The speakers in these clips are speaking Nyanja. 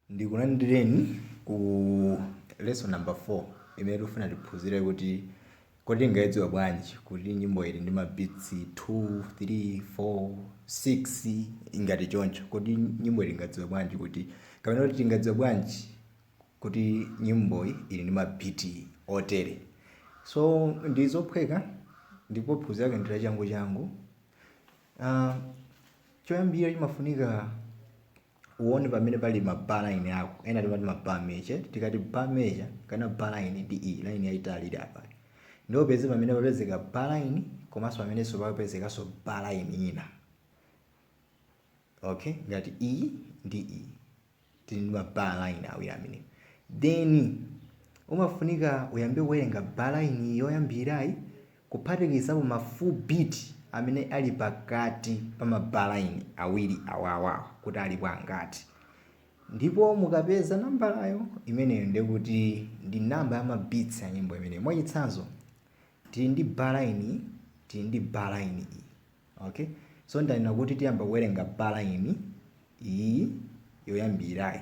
ndikulandireni ku lesson number 4 imene tikufuna tiphunzire kuti kodi tingayidziwe bwanji kuti nyimboyi ili ndi mabitsi 2 3 4 6 ngati choncho kodi nyimboyi tingadziwe bwanji kuti kapena kuti tingadziwe bwanji kuti nyimboyi ili ndi mabiti otere so ndi zophweka ndipo phunziro lake ndi la changu changu Uh, choyambirira chimafunika uone pamene pali mabar line ako ena timati mabar measure tikati bar measure kana bar line ndi iyi line yayitali ili apa ndipo upeze pamene papezeka bar line komanso pamenenso papezekanso bar line ina okay ngati iyi ndi iyi tili ndi ma bar line awiri amenewo then umafunika uyambe kuwerenga bar line yoyambirirayi kuphatikizapo ma full beat amene ali pakati pa ma bar line awiri awawa kuti alipo angati ndipo mukapeza nambalayo imeneyo ndiye kuti ndi nambala ya ma beats ya nyimbo imeneyo mwachitsanzo tili ndi bar line tili ndi bar line iyi Ok, so ndanena kuti tiyamba kuwerenga bar line iyi yoyambirirayi.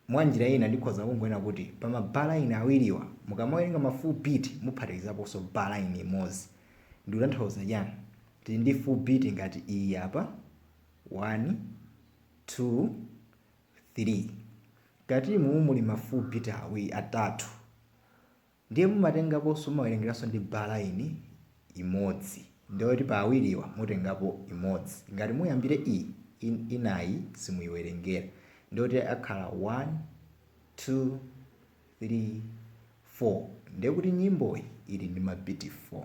Mwa njira ina ndikhoza kungonena kuti pa ma bar line awiriwa mukamawerenga ma full beat muphatikizaponso bar line imodzi. Ndikutanthauza chani? Tili ndi full beat ngati iyi apa 1 2 3 Mkati mumu muli ma full beat awiri atatu. Ndiye mumatengaponso mumawerengeranso ndi bar line imodzi ndiye kuti pa awiriwa mutengapo imodzi ngati muyambire iyi inayi simuyiwerengera ndiye kuti akhala 1 2 3 4 ndiye kuti nyimboyi ili ndi ma beat 4.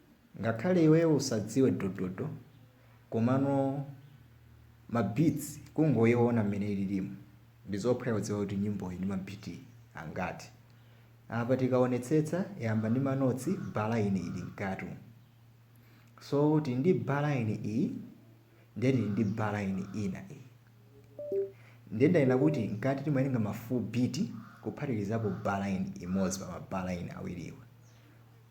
Ngakhale iweyo usadziwe dododo komano ma beats kungoiona mmene ililimu ndizophweka kudziwa kuti nyimboyi ili ndi ma beat angati. Apa tikaonetsetsa yayamba ndi ma notes bar line ili mkati umu. So tili ndi bar line iyi ndiye tili ndi bar line ina iyi. Ndiye ndanena kuti mkati timawerenga ma full beat kuphatikizapo bar line imodzi pa ma bar line awiriwa.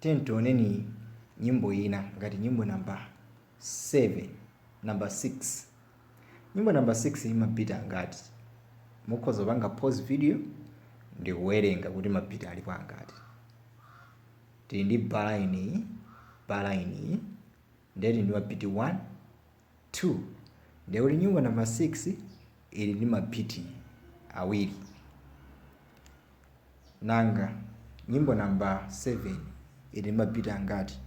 Tiyeni tioneni nyimbo ina ngati nyimbo number 7 number 6 nyimbo number 6 ili mabiti angati mukhoza kupanga pause video ndikuwerenga kuti mabiti alipo angati tili ndi balaini iyi balaini Ndiye tili ndi ma beat 1, 2. Ndiye kuti nyimbo namba 6 ili ndi ma beat awiri. Nanga nyimbo namba 7 ili ndi ma beat angati?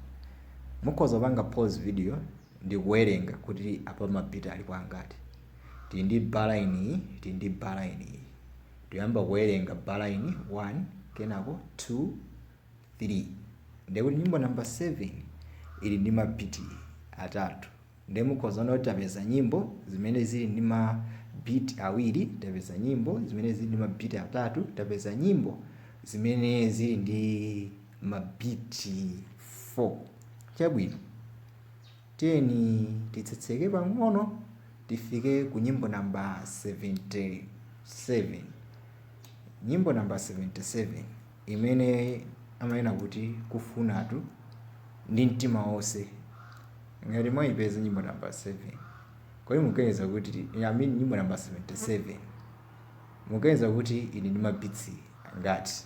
Mukhoza kupanga pause video ndi kuwerenga kuti apa ma beat alipo angati. Tili ndi bar line iyi, tili ndi bar line iyi. Tiyamba kuwerenga bar line 1, kenako 2, 3 ndiye kuti nyimbo number 7 ili ndi ma beat atatu ndiye mukhoza kuona kuti tapeza nyimbo zimene zili ndi ma beat awiri tapeza nyimbo zimene zili ndi ma beat atatu tapeza nyimbo zimene zili ndi ma beat 4 chabwino tiyeni titsitsike pang'ono tifike ku nyimbo namba 77 nyimbo namba 77 imene amanena kuti Kufunatu ndi mtima wonse Ngati mwaipeza nyimbo number 7 Kodi mukuganiza kuti I mean nyimbo number 77 Mukuganiza kuti ili ndi ma beats angati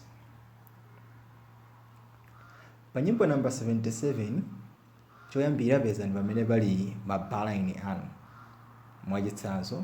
Pa nyimbo number 77 choyambirira pezani pamene pali ma bar line anu mwachitsanzo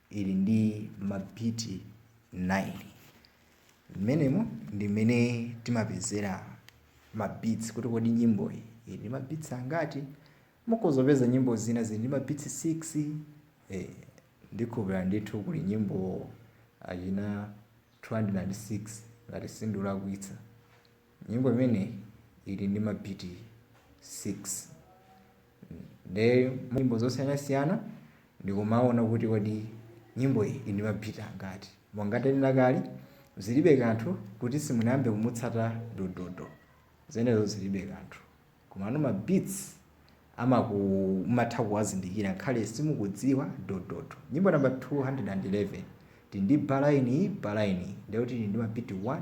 ili ndi mabiti 9. Mmenemo ndi mmene timapezera mabits kuti kodi nyimboyi ili ndi mabits angati. Mukhoza kupeza nyimbo zina zili ndi mabits 6. Eh, ndikhulupirira ndithu kuli nyimbo achina 206 ngati sindikulakwitsa. Nyimbo imeneyi ili ndi mabiti 6. Nde nyimbo zosiyanasiyana ndikumaona kuti kodi nyimbo iyi ili ndi ma beat angati. Monga ndanena kale, zilibe kanthu kuti simunayambe kumutsata Dododo, zimenezo zilibe kanthu. Komano ma beats mumatha kuwazindikira ngakhale simukudziwa Dododo. Nyimbo number 211 tili ndi bar line iyi, bar line iyi, ndekuti ili ndi ma beat 1,